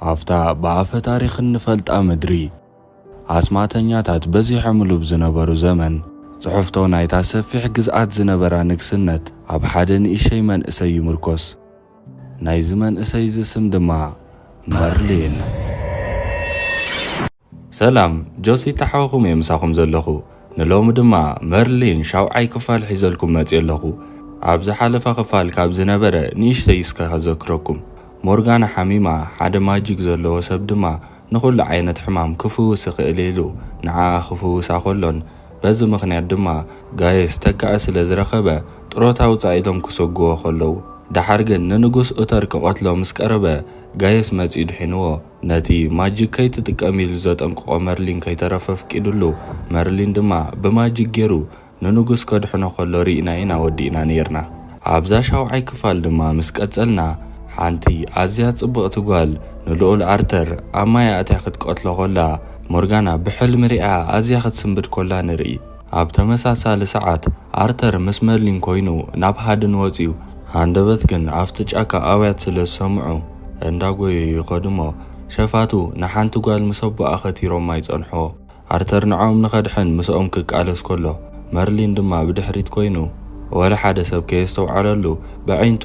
ኣብታ ብኣፈ ታሪኽ እንፈልጣ ምድሪ፣ ኣስማተኛታት በዚሖምሉ ብዝነበሩ ዘመን፣ ጽሕፍቶ ናይታ ሰፊሕ ግዝኣት ዝነበራ ንግስነት ኣብ ሓደ ንእሸይ መንእሰይ ይምርኮስ። ናይዚ መንእሰይዚ ስም ድማ መርሊን። ሰላም ጆሲ ታሕዋኹም እየ ምሳኹም ዘለኹ ንሎሚ ድማ መርሊን ሻውዓይ ክፋል ሒዘልኩም መጽየ ኣለኹ ኣብ ዝሓለፈ ክፋል ካብ ዝነበረ ንእሽተይ እስከ ከዘክረኩም ሞርጋና ሓሚማ ሓደ ማጂክ ዘለዎ ሰብ ድማ ንኹሉ ዓይነት ሕማም ክፍውስ ይኽእል ኢሉ ንዓኣ ክፍውሳ ከሎን በዚ ምኽንያት ድማ ጋየስ ተካኢ ስለ ዝረኸበ ጥሮታ ውጻእ ኢሎም ክሰጉዎ ከለዉ ደሓር ግን ንንጉስ ኡተር ክቐትሎ ምስ ቀረበ ጋየስ መጽዩ ድሒንዎ ነቲ ማጂክ ከይትጥቀም ኢሉ ዘጠንቅቖ መርሊን ከይተረፈ ኣፍቂድሉ። መርሊን ድማ ብማጂክ ጌሩ ንንጉስ ከድሕኖ ከሎ ሪእና ኢና ወዲእና ኔርና። ኣብዛ ሻውዓይ ክፋል ድማ ምስ ቀጸልና ሓንቲ ኣዝያ ጽብቕቲ ጓል ንልኡል ኣርተር ኣብ ማይ ኣእትያ ክትቀትሎ ኮላ ሞርጋና ብሕልሚ ሪኣ ኣዝያ ክትስንብድ ኮላ ንርኢ። ኣብ ተመሳሳሊ ሰዓት፣ ኣርተር ምስ መርሊን ኮይኑ ናብ ሃድን ወጺኡ። ሃንደበት ግን ኣብቲ ጫካ ኣውያት ስለ ዝሰምዑ እንዳጎዩ ይኸዱ እሞ ሸፋቱ ንሓንቲ ጓል ምስ ኣቦኣ ከቲሮማ ይጸንሑ። ኣርተር ንዕኦም ንኸድሕን ምስኦም ክቃለስ ከሎ መርሊን ድማ ብድሕሪት ኮይኑ ወላ ሓደ ሰብ ከየስተውዓለሉ በዒንቱ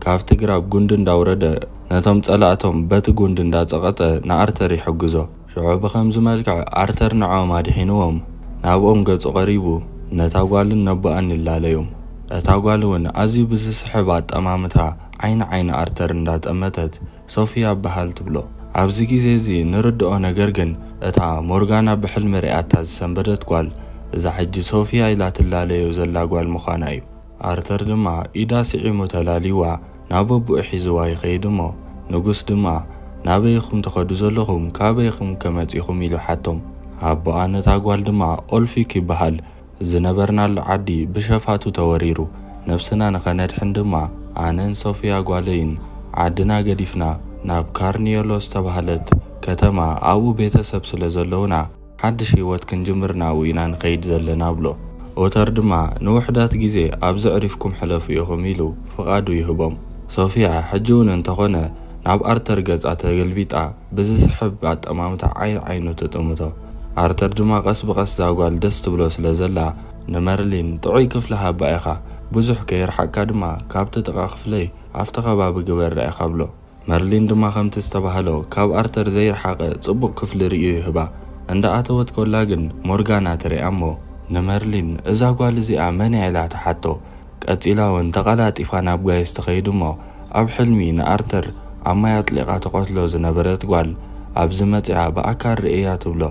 ካብቲ ግራብ ጉንዲ እንዳውረደ ነቶም ጸላእቶም በቲ ጉንዲ እንዳጸቐጠ ንኣርተር ይሕግዞ። ሽዑ ብኸምዚ መልክዕ ኣርተር ንዖኦም ኣድሒንዎም ናብኦም ገጹ ቀሪቡ ነታ ጓልን ነቦኣን ይላለዮም። እታ ጓል እውን ኣዝዩ ብዝስሕብ ኣጠማምታ ዓይና ዓይኒ ኣርተር እንዳጠመተት ሶፍያ በሃል ትብሎ። ኣብዚ ግዜ እዚ ንርድኦ ነገር ግን እታ ሞርጋና ብሕልሚ ሪኣታ ዝሰንበደት ጓል እዛ ሕጂ ሶፍያ ኢላ ትላለዮ ዘላ ጓል ምዃና እዩ። ኣርተር ድማ ኢዳ ስዒሙ ተላልይዋ ናብ ኣቡኡ ሒዝዋ ይኸይድ እሞ ንጉስ ድማ ናበይ ኢኹም ትኸዱ ዘለኹም ካበይ ኢኹምከ መጺኹም ኢሉ ሓቶም ኣቡኣ ነታ ጓል ድማ ኦልፊክ ይብሃል ዝነበርናሉ ዓዲ ብሸፋቱ ተወሪሩ ነብስና ንኸነድሕን ድማ ኣነን ሶፍያ ጓለይን ዓድና ገዲፍና ናብ ካርንዮሎስ ዝተባህለት ከተማ ኣብኡ ቤተሰብ ስለ ዘለውና ሓድሽ ህይወት ክንጅምር ናብኡ ኢና ንኸይድ ዘለና ብሎ። ኦተር ድማ፣ ንውሑዳት ግዜ ኣብዚ ኣዕሪፍኩም ሕለፉ ኢኹም ኢሉ ፍቓዱ ይህቦም። ሶፍያ ሕጂ'ውን እንተኾነ ናብ ኣርተር ገጻ ተገልቢጣ ብዝስሕብ ኣጠማምታ ዓይን ዓይኑ ትጥምቶ። ኣርተር ድማ ቀስ ብቐስ እዛ ጓል ደስ ትብሎ ስለ ዘላ፣ ንመርሊን ጥዑይ ክፍሊ ሃባ ኢኻ፣ ብዙሕ ከይርሓቅካ ድማ ካብቲ ጥቓ ክፍለይ ኣብቲ ከባቢ ግበራ ኢኻ ብሎ። መርሊን ድማ ከምቲ ዝተባህሎ ካብ ኣርተር ዘይርሓቐ ጽቡቕ ክፍሊ ርእዩ ይህባ። እንዳ ኣተወት ኮላ ግን ሞርጋና ትርኣ እሞ። ንመርሊን እዛ ጓል እዚኣ መን'ያ ኢላ ትሓቶ። ቀጺላ ውን ተቐላጢፋ ናብ ጋይስ ትኸይድ እሞ ኣብ ሕልሚ ንኣርተር ኣብ ማይ ኣጥሊቓ ትቐትሎ ዝነበረት ጓል ኣብዚ መጺኣ ብኣካል ርእየያ ትብሎ።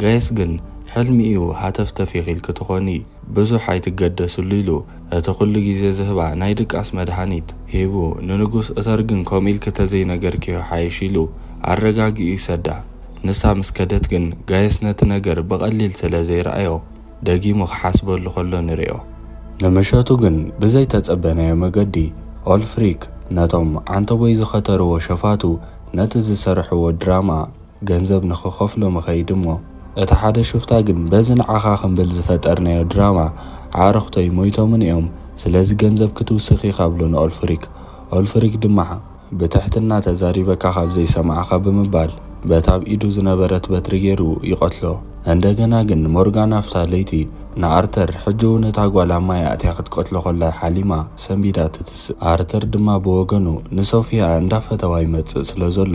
ጋይስ ግን ሕልሚ'ዩ ሃተፍተፍ ኢኺልኪ ትኾኒ። ብዙሕ ኣይትገደስሉ ኢሉ እቲ ኩሉ ግዜ ዝህባ ናይ ድቃስ መድሃኒት ሂቡ ንንጉስ እተር ግን ከምኡ ኢልኪ ተዘይነገርክዮ ይሓይሽ ኢሉ ኣረጋጊኡ ይሰዳ ንሳ ምስ ከደት ግን ጋይስ ነቲ ነገር ብቀሊል ስለ ዘይረኣዮ ደጊሙ ክሓስበሉ ከሎ ንሪኦ። ንምሸቱ ግን ብዘይ ተጸበናዮ መገዲ ኦልፍሪክ ነቶም ዓንተቦይ ዝኸተርዎ ሸፋቱ ነቲ ዝሰርሕዎ ድራማ ገንዘብ ንኽኸፍሎም እኸይድ እሞ እቲ ሓደ ሹፍታ ግን በዚ ንዓኻ ክንብል ዝፈጠርናዮ ድራማ ኣዕርኽቶይ ሞይቶምን እዮም ስለዚ ገንዘብ ክትውስኽ ኢኻ ብሎ ንኦልፍሪክ ኦልፍሪክ ድማ ብትሕትና ተዛሪበካ ካብ ዘይሰማዕኻ ብምባል በታ ኣብ ኢዱ ዝነበረት በትሪ ገይሩ ይቐትሎ እንደገና ግን ሞርጋን ኣብታ ለይቲ ንኣርተር ሕጂ እውን እታ ጓል ኣብ ማይ ኣእትያ ክትቀትሎ ከላ ሓሊማ ሰንቢዳ ትትስእ ኣርተር ድማ ብወገኑ ንሶፍያ እንዳፈተዋ ይመጽእ ስለዘሎ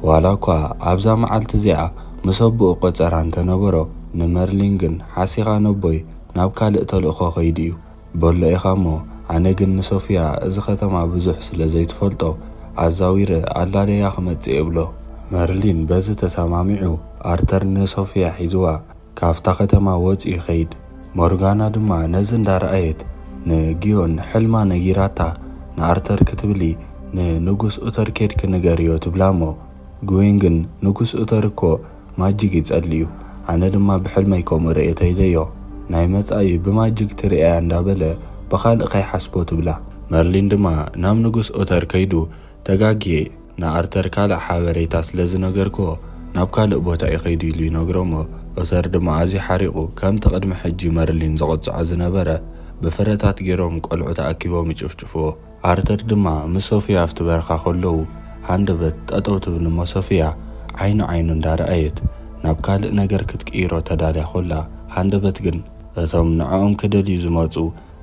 ዋላ እኳ ኣብዛ መዓልቲ እዚኣ ምስ ኣቦኡ ቈጸራ እንተ ነበሮ፣ ንመርሊን ግን ሓሲኻ ነቦይ ናብ ካልእ ተልእኾ ከይዱ እዩ በሎ ኢኻ እሞ፣ ኣነ ግን ንሶፍያ እዚ ከተማ ብዙሕ ስለ ዘይትፈልጦ ኣዛዊረ ኣላልየያ ክመጽእ እየ እብሎ። መርሊን በዚ ተሰማሚዑ ኣርተር ንሶፍያ ሒዙዋ ካብታ ከተማ ወጺኡ ይኸይድ። ሞርጋና ድማ ነዚ እንዳ ረኣየት ንግዮን ሕልማ ነጊራታ ንኣርተር ክትብሊ ንንጉስ ኡተር ኬድኪ ንገርዮ ትብላ እሞ ግዮን ግን ንጉስ ኡተር እኮ ማጂግ ይጸልእዩ ኣነ ድማ ብሕልመይ ከምኡ ረኤተይለዮ ናይ መጻኢ ብማጂግ ትርእያ እንዳ በለ ብኻልእ ከይሓስቦ ትብላ። መርሊን ድማ ናብ ንጉስ ኡተር ከይዱ ተጋግየ ንኣርተር ካልእ ሓበሬታ ስለ ዝነገርክዎ ናብ ካልእ ቦታ እዩ ከይዱ ኢሉ ይነግሮ'ሞ ኦተር ድማ ኣዝዩ ሓሪቑ ከምቲ ቅድሚ ሕጂ መርሊን ዝቕጽዖ ዝነበረ ብፍረታት ጌሮም ቆልዑ ተኣኪቦም ይጭፍጭፍዎ። ኣርተር ድማ ምስ ሶፍያ ኣብቲ በረኻ ከለዉ ሃንደበት ጠጠው ትብል'ሞ ሶፍያ ዓይኒ ዓይኑ እንዳረኣየት ናብ ካልእ ነገር ክትቅይሮ ተዳልያ ኮላ ሃንደበት ግን እቶም ንዕኦም ክደልዩ ዝመጹ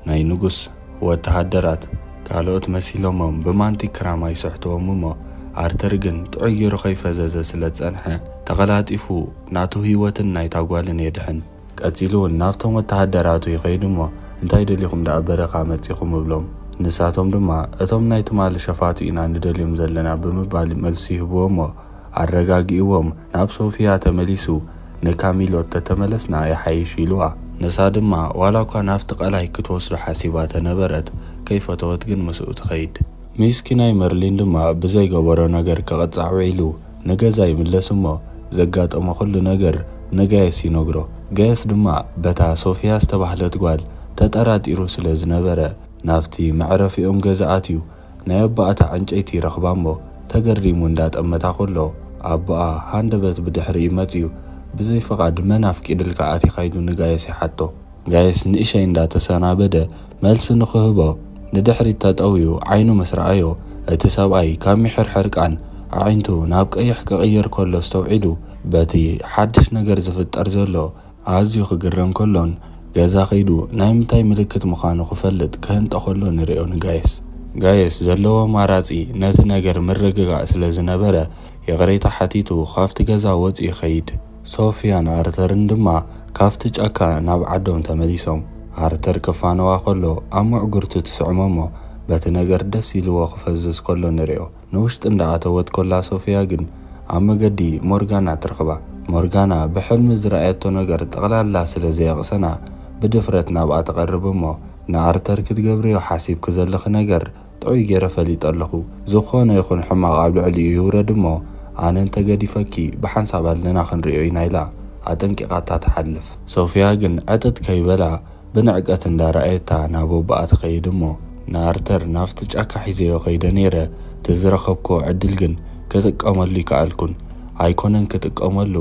ናይ ንጉስ ወተሃደራት ካልኦት መሲሎሞም ብማንቲ ክራማ ይስሕትዎም እሞ ኣርተር ግን ጥዑይ ጌሩ ከይፈዘዘ ስለ ዝጸንሐ ተቐላጢፉ ናቱ ህይወትን ናይታ ጓልን የድሕን። ቀጺሉ ውን ናብቶም ወተሃደራቱ ይኸይድ እሞ እንታይ ደሊኹም ደኣ በረኻ መጺኹም እብሎም ንሳቶም ድማ እቶም ናይ ትማሊ ሸፋቱ ኢና ንደልዮም ዘለና ብምባል መልሲ ይህብዎ እሞ ኣረጋጊእዎም ናብ ሶፍያ ተመሊሱ ንካሚሎት ተተመለስና ይሓይሽ ኢሉዋ። ንሳ ድማ ዋላ እኳ ናብቲ ቀላይ ክትወስዶ ሓሲባ ተነበረት ከይፈተወት ግን ምስኡ ትኸይድ። ሚስኪናይ መርሊን ድማ ብዘይገበሮ ነገር ክቕጻዕ ውዒሉ ንገዛ ይምለስ እሞ ዘጋጠሞ ኩሉ ነገር ንጋየስ ይነግሮ። ጋየስ ድማ በታ ሶፍያ ዝተባህለት ጓል ተጠራጢሩ ስለ ዝነበረ ናብቲ መዕረፊኦም ገዛ ኣትዩ። ናይ ኣቦኣታ ዕንጨይቲ ረኽባ'ሞ ተገሪሙ እንዳ ጠመታ ከሎ ኣቦኣ ሃንደበት ብድሕሪኡ መጺኡ ብዘይ ፍቓድ መን ኣፍቂድልካ ኣቲኻ ኢሉ ንጋይስ ይሓቶ። ጋይስ ንእሸይ እንዳ ተሰናበደ መልሲ ንኽህቦ ንድሕሪት ተጠውዩ ዓይኑ ምስ ረኣዮ እቲ ሰብኣይ ካብ ሚሒር ሕርቃን ኣዒንቱ ናብ ቀይሕ ክቕይር ከሎ ኣስተውዒሉ በቲ ሓድሽ ነገር ዝፍጠር ዘሎ ኣዝዩ ክግረም ከሎን ገዛ ከይዱ ናይ ምንታይ ምልክት ምኻኑ ክፈልጥ ክህንጠ ከሎ ንሪኦ ንጋይስ። ጋይስ ዘለዎ ኣማራጺ ነቲ ነገር ምርግጋእ ስለ ዝነበረ ይቕሬታ ሓቲቱ ካብቲ ገዛ ወጽዩ ይኸይድ። ሶፍያን ኣርተርን ድማ ካብቲ ጫካ ናብ ዓዶም ተመሊሶም። ኣርተር ክፋነዋ ከሎ ኣብ ምዕጉርቱ ትስዕሞ'ሞ በቲ ነገር ደስ ኢልዎ ክፈዝዝ ከሎ ንሪኦ። ንውሽጢ እንዳኣተወት ኮላ ሶፍያ ግን ኣብ መገዲ ሞርጋና ትረኽባ። ሞርጋና ብሕልሚ ዝረኣየቶ ነገር ጠቕላላ ስለ ዘየቕሰና ብድፍረት ናብኣ ትቐርብ እሞ ንኣርተር ክትገብርዮ ሓሲብኪ ዘለኺ ነገር ጥዑይ ጌረ ፈሊጠ ኣለኹ ዝኾነ ይኹን ሕማቕ ኣብ ልዕሊኡ ይውረድ እሞ ኣነ እንተ ገዲፈኪ ብሓንሳብ ኣለና ክንሪኦ ኢና ኢላ ኣጠንቂቓታ ትሓልፍ። ሶፍያ ግን ዕጥጥ ከይበላ ብንዕቀት እንዳ ራኣየታ ናብ ኣቦኣ ትከይድ እሞ ንኣርተር ናብቲ ጫካ ሒዘዮ ከይደ ነይረ እቲ ዝረከብክዎ ዕድል ግን ክጥቀመሉ ኣይከኣልኩን ኣይኮነን ክጥቀመሉ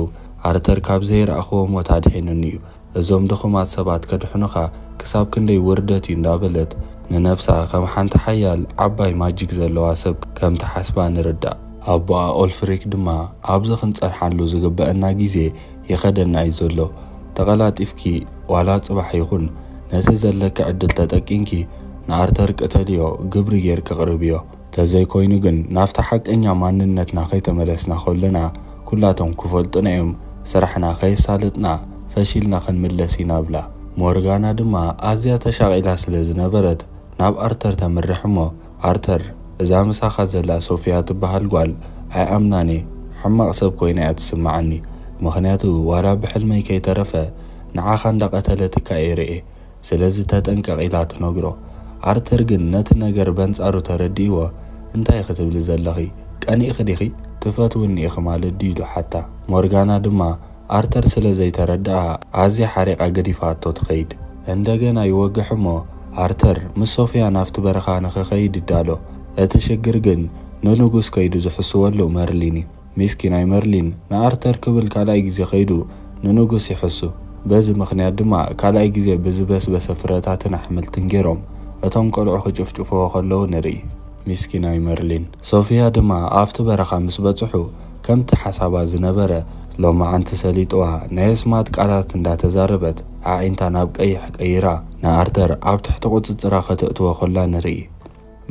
ኣርተር ካብ ዘይረኣክዎ ሞት ኣድሒኑኒ እዩ እዞም ድኩማት ሰባት ከድሕኑካ ክሳብ ክንደይ ውርደት እዩ እንዳበለት ንነብሳ ከም ሓንቲ ሓያል ዓባይ ማጂክ ዘለዋ ሰብ ከም ትሓስባ ንርዳእ። ኣቦኣ ኦልፍሪክ ድማ ኣብዚ ክንጸንሓሉ ዝግበኣና ግዜ ይኸደና እዩ ዘሎ ተቐላጢፍኪ ዋላ ጽባሕ ይኹን ነቲ ዘለኪ ዕድል ተጠቂንኪ ንኣርተር ቅተልዮ ግብሪ ጌርኪ ኣቕርብዮ ተዘይኮይኑ ግን ናብቲ ሓቀኛ ማንነትና ከይተመለስና ከሎና ኩላቶም ክፈልጡና እዮም ስራሕና ከየሳለጥና ፈሺልና ክንምለስ ኢና ብላ ሞርጋና ድማ ኣዝያ ተሻቒላ ስለ ዝነበረት ናብ ኣርተር ተምርሕ እሞ ኣርተር እዛ ምሳኻ ዘላ ሶፍያ ትበሃል ጓል ኣይኣምናን እየ ሕማቕ ሰብ ኮይና እያ ትስመዓኒ ምኽንያቱ ዋላ ብሕልመይ ከይተረፈ ንዓኻ እንዳቐተለትካ እየ ርእየ ስለዚ ተጠንቀቕ ኢላ ትነግሮ ኣርተር ግን ነቲ ነገር በንጻሩ ተረዲእዎ እንታይ ኢኺ ትብሊ ዘለኺ ቀኒእኺ ዲኺ ትፈትውኒ ኢኺ ማለት ድዩ ኢሉ ሓታ ሞርጋና ድማ ኣርተር ስለ ዘይተረድኣ ኣዝያ ሓሪቓ ገዲፋቶ ትኸይድ። እንደገና ይወግሕ እሞ ኣርተር ምስ ሶፍያ ናብቲ በረኻ ንኽኸይድ ይዳሎ። እቲ ሽግር ግን ንንጉስ ከይዱ ዝሕስወሉ መርሊን እዩ። ሚስኪናይ መርሊን ንኣርተር ክብል ካልኣይ ግዜ ከይዱ ንንጉስ ይሕሱ። በዚ ምኽንያት ድማ ካልኣይ ግዜ ብዝበስበሰ ፍረታትን ኣሕምልትን ገይሮም እቶም ቆልዑ ክጭፍጭፍዎ ከለዉ ንርኢ። ሚስኪናይ መርሊን። ሶፍያ ድማ ኣብቲ በረኻ ምስ በጽሑ ከምቲ ሓሳባ ዝነበረ ሎማዓንቲ ሰሊጥዋ ናይ ኣስማት ቃላት እንዳ ተዛረበት ኣዒንታ ናብ ቀይሕ ቀይራ ንኣርተር ኣብ ትሕቲ ቁጽጽራ ከተእትዎ ከላ ንርኢ።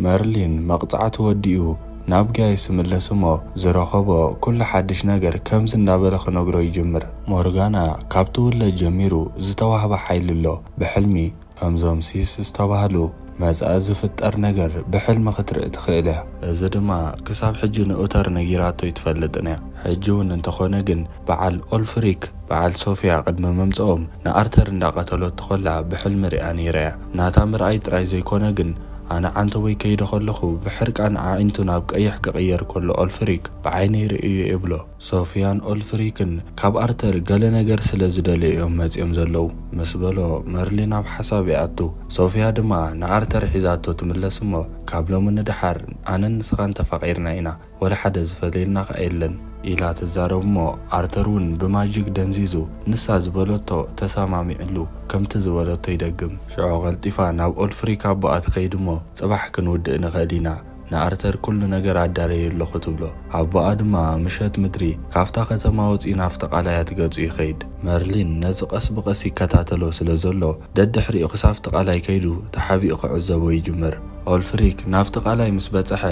መርሊን መቅጻዕቱ ወዲኡ ናብ ጋይስ ይምለስ እሞ ዝረኸቦ ኩሉ ሓድሽ ነገር ከምዚ እንዳበለ ክነግሮ ይጅምር። ሞርጋና ካብ ትውለድ ጀሚሩ ዝተዋህባ ሓይሊ ኣሎ ብሕልሚ፣ ከምዞም ሲስ ዝተባህሉ መጻኢ ዝፍጠር ነገር ብሕልሚ ክትርኢ ትኽእል እያ። እዚ ድማ ክሳብ ሕጂ ንኡተር ነጊራቶ ኣይትፈልጥን እያ። ሕጂ እውን እንተኾነ ግን በዓል ኦልፍሪክ በዓል ሶፍያ ቅድሚ ምምጽኦም ንኣርተር እንዳቀተለቶ ከላ ብሕልሚ ሪኣ ነይራ እያ። ናታ ምርኣይ ጥራይ ዘይኮነ ግን ኣነ ዓንተቦይ ከይደ ከለኹ ብሕርቃን ኣዒንቱ ናብ ቀይሕ ክቅየር ከሎ ኦልፍሪክ ብዓይነይ ርእዩ'የ ይብሎ። ሶፍያን ኦልፍሪክን ካብ ኣርተር ገለ ነገር ስለ ዝደለዩ እዮም መጺኦም ዘለዉ ምስ በሎ፣ መርሊን ኣብ ሓሳብ ይኣቱ። ሶፍያ ድማ ንኣርተር ሒዛቶ ትምለስ እሞ፣ ካብ ሎሚ ንደሓር ኣነን ንስኻን ተፋቒርና ኢና፣ ወላ ሓደ ዝፈልየና ከኣ የለን። ኢላ ትዛረብ እሞ፣ ኣርተር እውን ብማጂክ ደንዚዙ ንሳ ዝበለቶ ተሰማሚዕሉ ከምቲ ዝበለቶ ይደግም። ሽዑ ቀልጢፋ ናብ ኦልፍሪክ ኣቦኣ ትኸይድ እሞ፣ ጽባሕ ክንውድእ ንኽእል ኢና፣ ንኣርተር ኩሉ ነገር ኣዳለየ ኣለኹ ትብሎ። ኣቦኣ ድማ ምሸት ምድሪ ካብታ ከተማ ወጺኡ ናብቲ ቃላያት ገጹ ይኸይድ። መርሊን ነዚ ቀስ ብቐስ ይከታተሎ ስለ ዘሎ ደድሕሪኡ ክሳብቲ ቃላይ ከይዱ ተሓቢኡ ክዕዘቦ ይጅምር። ኦልፍሪክ ናብቲ ቃላይ ምስ በጸሐ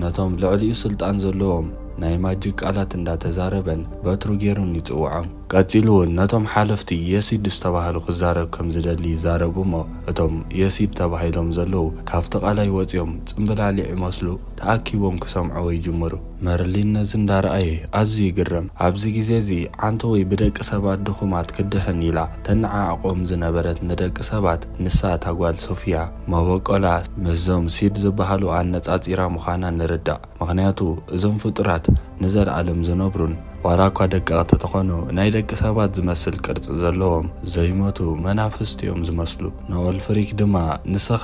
ነቶም ልዕሊኡ ስልጣን ዘለዎም ናይ ማጂክ ቃላት እንዳተዛረበን በትሩ ጌሩን ይጽውዖም። ቀጺሉ ውን ነቶም ሓለፍቲ የሲድ ዝተባህሉ ክዛረብ ከም ዝደሊ ይዛረቡ እሞ እቶም የሲድ ተባሂሎም ዘለዉ ካብቲ ቃላይ ወጺኦም ጽምብላሊዕ ይመስሉ ተኣኪቦም ክሰምዕዎ ይጅምሩ። መርሊን ነዚ እንዳረኣየ ኣዝዩ ይግረም። ኣብዚ ግዜ እዚ ዓንተወይ ብደቂ ሰባት ድኹማት ክድሕን ኢላ ተነዓዕቆም ዝነበረት ንደቂ ሰባት ንሳ እታ ጓል ሶፍያ መበቆላ ምስዞም ሲድ ዝበሃሉ ኣነጻጺራ ምዃና ንርዳእ። ምኽንያቱ እዞም ፍጡራት ንዘልኣለም ዝነብሩን ዋላ እኳ ደቀቕቲ ተኾኑ ናይ ደቂ ሰባት ዝመስል ቅርጺ ዘለዎም ዘይሞቱ መናፍስት እዮም ዝመስሉ። ኖወል ፍሪክ ድማ ንስኻ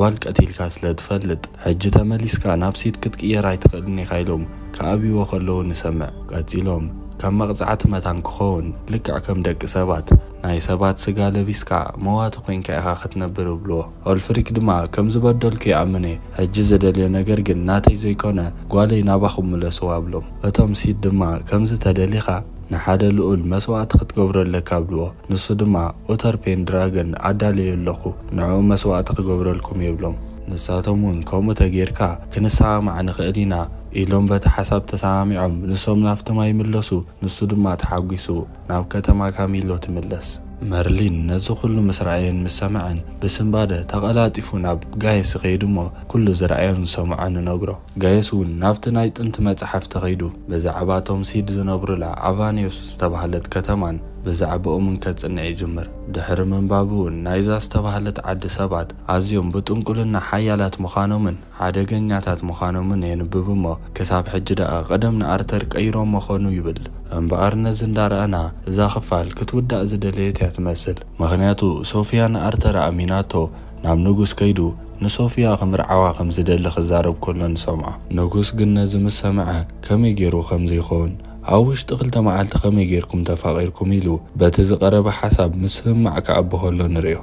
ጓል ቀቲልካ ስለ ትፈልጥ ሕጂ ተመሊስካ ናብ ሲድ ክትቅየር ኣይትኽእልን ኢኻ ኢሎም ክኣብይዎ ከለዉ ንሰምዕ። ቀጺሎም ከም መቕጻዕቲ መታን ክኾውን ልክዕ ከም ደቂ ሰባት ናይ ሰባት ስጋ ለቢስካ መዋቲ ኮይንካ ኢኻ ክትነብር እብልዎ። ኦልፍሪክ ድማ ከም ዝበደልኩ ይኣምን እየ ሕጂ ዝደልዮ ነገር ግን ናተይ ዘይኮነ ጓለይ ናባኹም ምለስዋ ብሎም እቶም ሲድ ድማ ከምዚ ተደሊኻ ንሓደ ልኡል መስዋእቲ ክትገብሮ ኣለካ ብልዎ ንሱ ድማ ኡተር ፔንድራገን ኣዳልየ ኣለኹ ንዕኡ መስዋእቲ ክገብረልኩም እየ ብሎም ንሳቶም ውን ከምኡ ተጌርካ ክንሰማማዕ ንኽእል ኢና ኢሎም በቲ ሓሳብ ተሰማሚዖም ንሶም ናብቲ ማይ ምለሱ ንሱ ድማ ተሓጒሱ። ናብ ከተማ ካሚሎ ትምለስ። መርሊን ነዚ ኩሉ ምስ ረኣየን ምስ ሰምዐን ብስንባደ ተቐላጢፉ ናብ ጋየስ ይኸይድ እሞ ኩሉ ዝረኣዮን ዝሰምዖን ይነግሮ። ጋየስ እውን ናብቲ ናይ ጥንቲ መጽሓፍ ተኸይዱ ብዛዕባ እቶም ሲድ ዝነብሩላ ኣቫንዮስ ዝተባህለት ከተማን ብዛዕብኦምን ከጽንዕ ይጅምር። ድሕሪ ምንባቡ እውን ናይዛ ዝተባህለት ዓዲ ሰባት ኣዝዮም ብጥንቁልና ሓያላት ምዃኖምን፣ ሓደገኛታት ምዃኖምን የንብብ እሞ ክሳብ ሕጂ ደኣ ቀደም ንኣርተር ቀይሮሞ ኾኑ ይብል። እምበኣር ነዚ እንዳረኣና እዛ ክፋል ክትውዳእ ዝደለየት እያ ትመስል። ምኽንያቱ ሶፍያ ንኣርተር ኣእሚናቶ ናብ ንጉስ ከይዱ ንሶፍያ ክምርዓዋ ከም ዝደሊ ክዛረብ ከሎ ንሰምዖ። ንጉስ ግን ነዚ ምስ ሰምዐ ከመይ ገይሩ ከምዚ ይኸውን ኣብ ውሽጢ ክልተ መዓልቲ ከመይ ገይርኩም ተፋቒርኩም ኢሉ በቲ ዝቐረበ ሓሳብ ምስምማዕ ክኣቢ ከሎ ንርእዮ።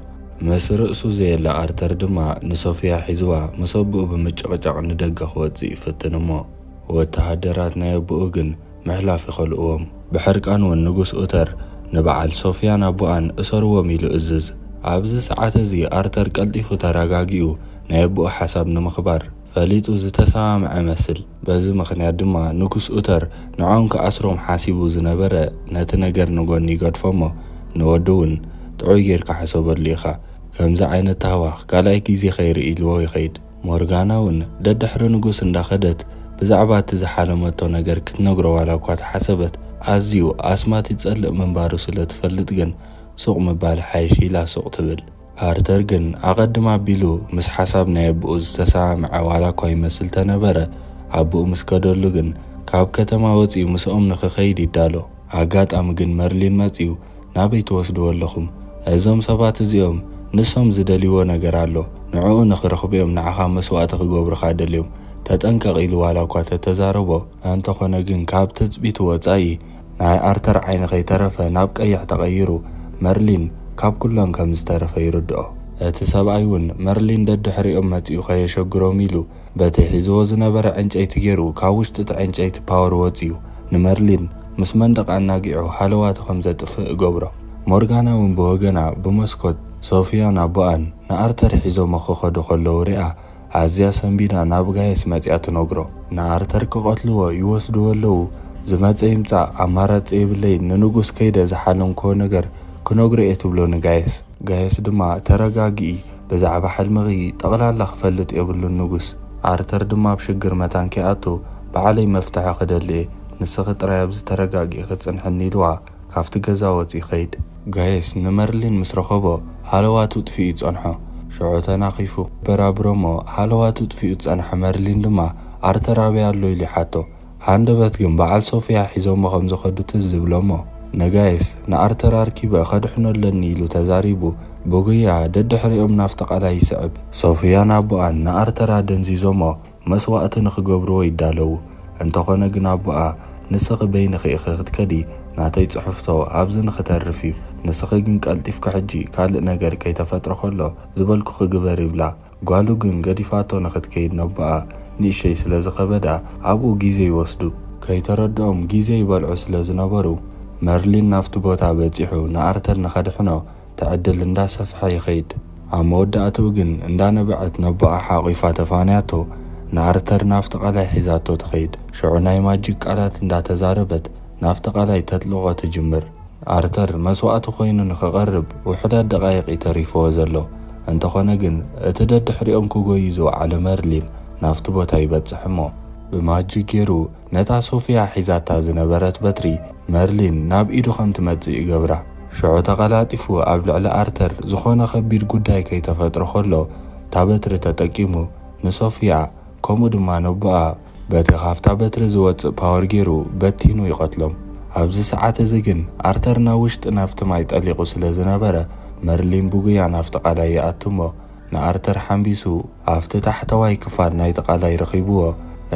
ምስ ርእሱ ዘየለ ኣርተር ድማ ንሶፍያ ሒዝዋ ምስ ኣቡኡ ብምጭቕጫቕ ንደገ ክወጽእ ይፍትን እሞ ወተሃደራት ናይ ኣቡኡ ግን ምሕላፍ ይኸልእዎም። ብሕርቃን ውን ንጉስ ኡተር ንበዓል ሶፍያን ኣቡኣን እሰርዎም ኢሉ እዝዝ። ኣብዚ ሰዓት እዚ ኣርተር ቀልጢፉ ተረጋጊኡ ናይ ኣቡኡ ሓሳብ ንምኽባር። ፈሊጡ ዝተሰማምዐ መስል። በዚ ምኽንያት ድማ ንጉስ ኡተር ንዖም ክኣስሮም ሓሲቡ ዝነበረ ነቲ ነገር ንጎኒ ይገድፎ'ሞ ንወዲ'ውን ጥዑይ ጌርካ ሕሰበሉ ኢኻ፣ ከምዚ ዓይነት ታህዋኽ ካልኣይ ግዜ ከይርኢ ኢልዎ ይኸይድ። ሞርጋና'ውን ደድሕሪ ንጉስ እንዳኸደት ብዛዕባ እቲ ዝሓለመቶ ነገር ክትነግሮ ዋላ'ኳ ተሓሰበት ኣዝዩ ኣስማት ይጸልእ ምንባሩ ስለትፈልጥ ግን ሱቕ ምባል ይሓይሽ ኢላ ሱቕ ትብል። ሃርተር ግን ኣቐድም ኣቢሉ ምስ ሓሳብ ናይ ኣቦኡ ዝተሰማምዐ ዋላ እኳ ይመስል ተነበረ፣ ኣቦኡ ምስ ከደሉ ግን ካብ ከተማ ወጺኡ ምስኦም ንክኸይድ ይዳሎ። ኣጋጣሚ ግን መርሊን መጺኡ ናበይ ትወስድዎ ኣለኹም? እዞም ሰባት እዚኦም ንሶም ዝደልይዎ ነገር ኣሎ፣ ንዕኡ ንክረኽቡ'ዮም ንዓኻ መስዋእቲ ክገብሩኻ ደልዮም፣ ተጠንቀቕ ኢሉ ዋላ እኳ ተተዛረቦ፣ እንተኾነ ግን ካብ ትጽቢቱ ወጻኢ ናይ ኣርተር ዓይኒ ከይተረፈ ናብ ቀይሕ ተቐይሩ፣ መርሊን ካብ ኩለን ከም ዝተረፈ ይርድኦ። እቲ ሰብኣይ ውን መርሊን ደድሕሪኦም መጺኡ ከየሸግሮም ኢሉ፣ በቲ ሒዝዎ ዝነበረ ዕንጨይቲ ጌሩ ካብ ውሽጢ'ቲ ዕንጨይቲ ፓወር ወጺኡ ንመርሊን ምስ መንደቕ ኣናጊዑ ሃለዋቱ ከም ዘጥፍእ እገብሮ። ሞርጋና ውን ብወገና ብመስኮት፣ ሶፍያን ኣቦኣን ንኣርተር ሒዞሞ ክኸዱ ከለዉ ሪኣ ኣዝያ ሰንቢዳ ናብ ጋይስ መጺኣ ትነግሮ። ንኣርተር ክቐትልዎ ይወስድዎ ኣለዉ ዝመጸ ይምጻእ ኣማራጺ የብለይን ንንጉስ ከይደ ዝሓለምክዎ ነገር ክነግሮ እየ ትብሎ ንጋይስ። ጋይስ ድማ ተረጋግኢ ብዛዕባ ሕልምኺ ጠቕላላ ክፈልጥ የብሉን ንጉስ። ኣርተር ድማ ኣብ ሽግር መታን ከይኣቱ ባዕለይ መፍትሒ ክደሊ እየ ንስኺ ጥራይ ኣብዚ ተረጋጊእኺ ጽንሕኒ ኢልዋ። ካብቲ ገዛ ወጽ ይኸይድ። ጋይስ ንመርሊን ምስ ረኸቦ ሃለዋቱ ጥፊኡ ይጸንሖ ሽዑ ተናኺፉ የበራብሮሞ ሃለዋቱ ጥፊኡ ዝጸንሐ መርሊን ድማ ኣርተር ኣበይ ኣሎ ኢሉ ይሓቶ ሃንደበት ግን በዓል ሶፍያ ሒዞሞ ከም ዝኸዱ ትዝ ዝብሎሞ ንጋይስ ንኣርተር ኣርኪበ ከድሕኖ ኣለኒ ኢሉ ተዛሪቡ ብጉያ ደድሕሪኦም ናፍቲ ቃላይ ይስዕብ ሶፍያን ኣቦኣን ንኣርተር ኣደንዚዞሞ መስዋእቲ ንኽገብርዎ ይዳለዉ። እንተኾነ ግን ኣቦኣ፣ ንስኺ በይንኺ ኢኺ ክትከዲ፣ ናተይ ጽሑፍቶ ኣብዚ ንኽተርፍ እዩ፣ ንስኺ ግን ቀልጢፍኪ ሕጂ ካልእ ነገር ከይተፈጥረ ከሎ ዝበልኩኺ ግበሪ ይብላ። ጓሉ ግን ገዲፋቶ ንኽትከይድ ነቦኣ ንእሸይ ስለ ዝኸበዳ ኣብኡ ግዜ ይወስዱ። ከይተረድኦም ግዜ ይበልዑ ስለ ዝነበሩ፣ መርሊን ናብቲ ቦታ በጺሑ ንኣርተር ንኸድሕኖ እቲ ዕድል እንዳ ሰፍሐ ይኸይድ። ኣብ መወዳእትኡ ግን እንዳ ነበዐት ነቦኣ ሓቒፋ ተፋንያቶ ንኣርተር ናብ ተቓላይ ሒዛቶ ትኸይድ። ሽዑ ናይ ማጂክ ቃላት እንዳ ተዛረበት ናብ ተቓላይ ተጥልቖ ትጅምር። ኣርተር መስዋእቲ ኮይኑ ንክቐርብ ውሑዳት ደቓይቕ እዩ ተሪፍዎ ዘሎ። እንተኾነ ግን እቲ ደድሕሪኦም ክጎዩ ዝወዓለ መርሊን ናብቲ ቦታ ይበጽሕ እሞ ብማጂክ ጌሩ ነታ ሶፍያ ሒዛታ ዝነበረት በትሪ መርሊን ናብ ኢዱ ከም ትመጽእ ይገብራ። ሽዑ ተቐላጢፉ ኣብ ልዕሊ ኣርተር ዝኾነ ከቢድ ጉዳይ ከይተፈጥረ ከሎ እታ በትሪ ተጠቂሙ ንሶፍያ ከምኡ ድማ ነቦኣ በቲ ካብታ በትሪ ዝወጽእ ፓወር ጌሩ በቲኑ ይቐትሎም። ኣብዚ ሰዓት እዚ ግን ኣርተር ናብ ውሽጢ ናብቲ ማይ ጠሊቑ ስለ ዝነበረ መርሊን ብጉያ ናብቲ ቃላይ ይኣቱ እሞ ንኣርተር ሓምቢሱ ኣብቲ ታሕተዋይ ክፋል ናይቲ ቃላይ ረኺቡዎ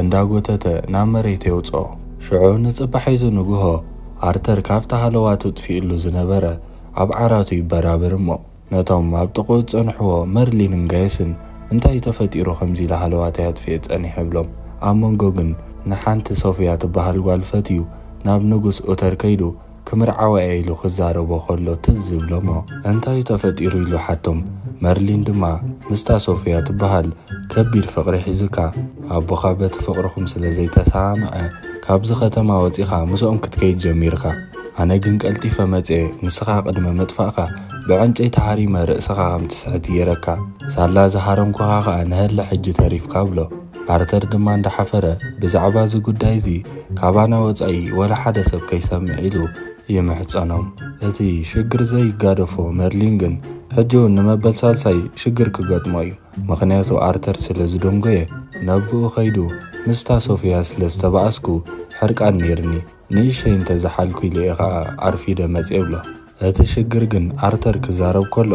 እንዳጎተተ ናብ መሬት የውጽኦ። ሽዑ ንጽባሒቱ ንግሆ ኣርተር ካብቲ ሃለዋ ተጥፊኡሉ ዝነበረ ኣብ ዓራቱ ይበራብር እሞ ነቶም ኣብ ጥቕኡ ዝጸንሑዎ መርሊንን ጋየስን እንታይ እዩ ተፈጢሩ ከምዚ ኢለ ሃለዋተይ ኣጥፊኤ ጸኒሐ ይብሎም። ኣብ መንጎ ግን ንሓንቲ ሶፍያ ትበሃል ጓል ፈትዩ ናብ ንጉስ ኡተር ከይዱ ክምርዓዋ'የ ኢሉ ክዛረቦ ከሎ ትዝ ዝብሎ'ሞ እንታዩ ተፈጢሩ ኢሉ ሓቶም። መርሊን ድማ ምስታ ሶፍያ ትበሃል ከቢድ ፍቕሪ ሒዙካ፣ ኣቦኻ በቲ ፍቕርኹም ስለ ዘይተሰማምዐ ካብዚ ከተማ ወጺኻ ምስኦም ክትከይድ ጀሚርካ። ኣነ ግን ቀልጢፈ መጺኤ ንስኻ ቅድሚ ምጥፋእካ ብዕንጨይቲ ሃሪመ ርእስኻ ከም ትስሕት ጌረካ፣ ሳላ ዝሃረምኩኻ ከኣ ንሀለ ሕጂ ተሪፍካ ብሎ። ኣርተር ድማ እንዳሓፈረ ብዛዕባ እዚ ጉዳይ እዚ ካባና ወፃኢ ወላ ሓደ ሰብ ከይሰምዕ ኢሉ ይምሕፀኖም። እቲ ሽግር ዘይጋደፎ መርሊን ግን ሕጂ እውን ንመበል ሳልሳይ ሽግር ክገጥሞ እዩ። ምክንያቱ ኣርተር ስለ ዝደንጎየ ነብኡ ከይዱ ምስታ ሶፍያ ስለ ዝተባኣስኩ ሕርቃን ነይርኒ ንእሸይ እንተዝሓልኩ ኢለ እየ ከዓ ኣርፊደ መፅየ ይብሎ። እቲ ሽግር ግን ኣርተር ክዛረብ ከሎ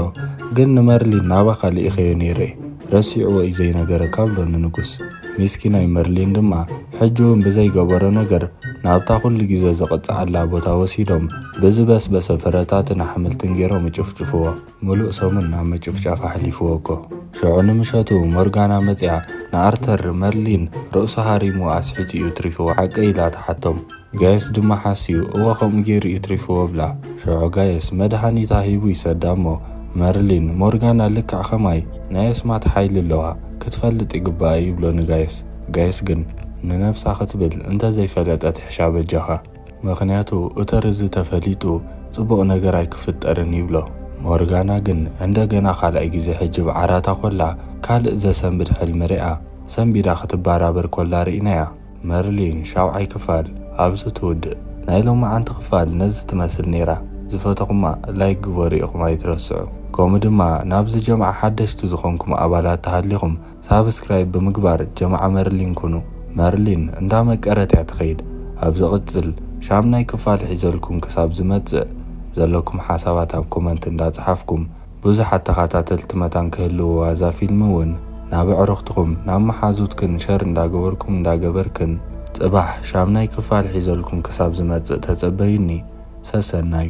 ግን ንመርሊን ናባኻ ልኢኸዮ ነይረ ረሲዕዎ እዩ ዘይነገረካ ብሎ ንንጉስ። ሚስኪናይ መርሊን ድማ ሕጂውን ብዘይገበሮ ነገር ናብታ ኩሉ ግዜ ዝቕጽዓላ ቦታ ወሲዶም ብዝበስበሰ ፍረታትን ኣሕምልትን ገይሮም እጭፍጭፍዎ። ምሉእ ሰሙን ኣብ ምጭፍጫፍ ኣሕሊፍዎ እኮ። ሸዑ ንምሸቱ ሞርጋና መጺኣ ንኣርተር መርሊን ርእሱ ሃሪምዎ ኣስሒቱ እዩ ትሪፍዎ ሓቀይ ኢላ ትሓቶም። ጋይስ ድማ ሓስዩ እወ ከምኡ ገይሩ እዩ ትሪፍዎ ብላ ሽዑ ጋይስ መድሃኒታ ሂቡ ይሰዳ እሞ መርሊን ሞርጋና ልክዕ ከማይ ናይ ኣስማት ሓይሊ ኣለዋ ክትፈልጥ ይግባኣ ይብሎ ንጋይስ ጋይስ ግን ንነብሳ ክትብል እንተዘይ ፈለጠት ሕሻ በጃኻ ምኽንያቱ እተርዚ ተፈሊጡ ጽቡቕ ነገር ኣይክፍጠርን ይብሎ ሞርጋና ግን ዕንደገና ካልኣይ ግዜ ሕጂ ብ ዓራታ ኮላ ካልእ ዘሰንብድ ሕልሚ ሪኣ ሰንቢዳ ክትባራበር ኮላ ሪኢናያ። መርሊን ሻውዓይ ክፋል ኣብዚ ትውድእ። ናይ ሎማዓንቲ ክፋል ነዚ ትመስል ኔራ ዝፈተኹማ ላይክ ግበሩ ኢኹም ኣይትረስዑ ከምኡ ድማ ናብዚ ጀምዓ ሓደሽቲ ዝኾንኩም ኣባላት ተሃሊኹም ሳብስክራይብ ብምግባር ጀምዓ መርሊን ኩኑ መርሊን እንዳመቀረት እያ ትኸይድ ኣብ ዝቕጽል ሻምናይ ክፋል ሒዘልኩም ክሳብ ዝመጽእ ዘለኩም ሓሳባት ኣብ ኮመንት እንዳጽሓፍኩም ብዙሓት ተኻታተልቲ መታን ክህልውዋ እዛ ፊልሚ ውን ናብ ኣዕሩኽትኹም ናብ መሓዙትክን ሸር እንዳገበርኩም እንዳገበርክን ጽባሕ ሻምናይ ክፋል ሒዘልኩም ክሳብ ዝመጽእ ተጸበዩኒ ሰሰናዩ።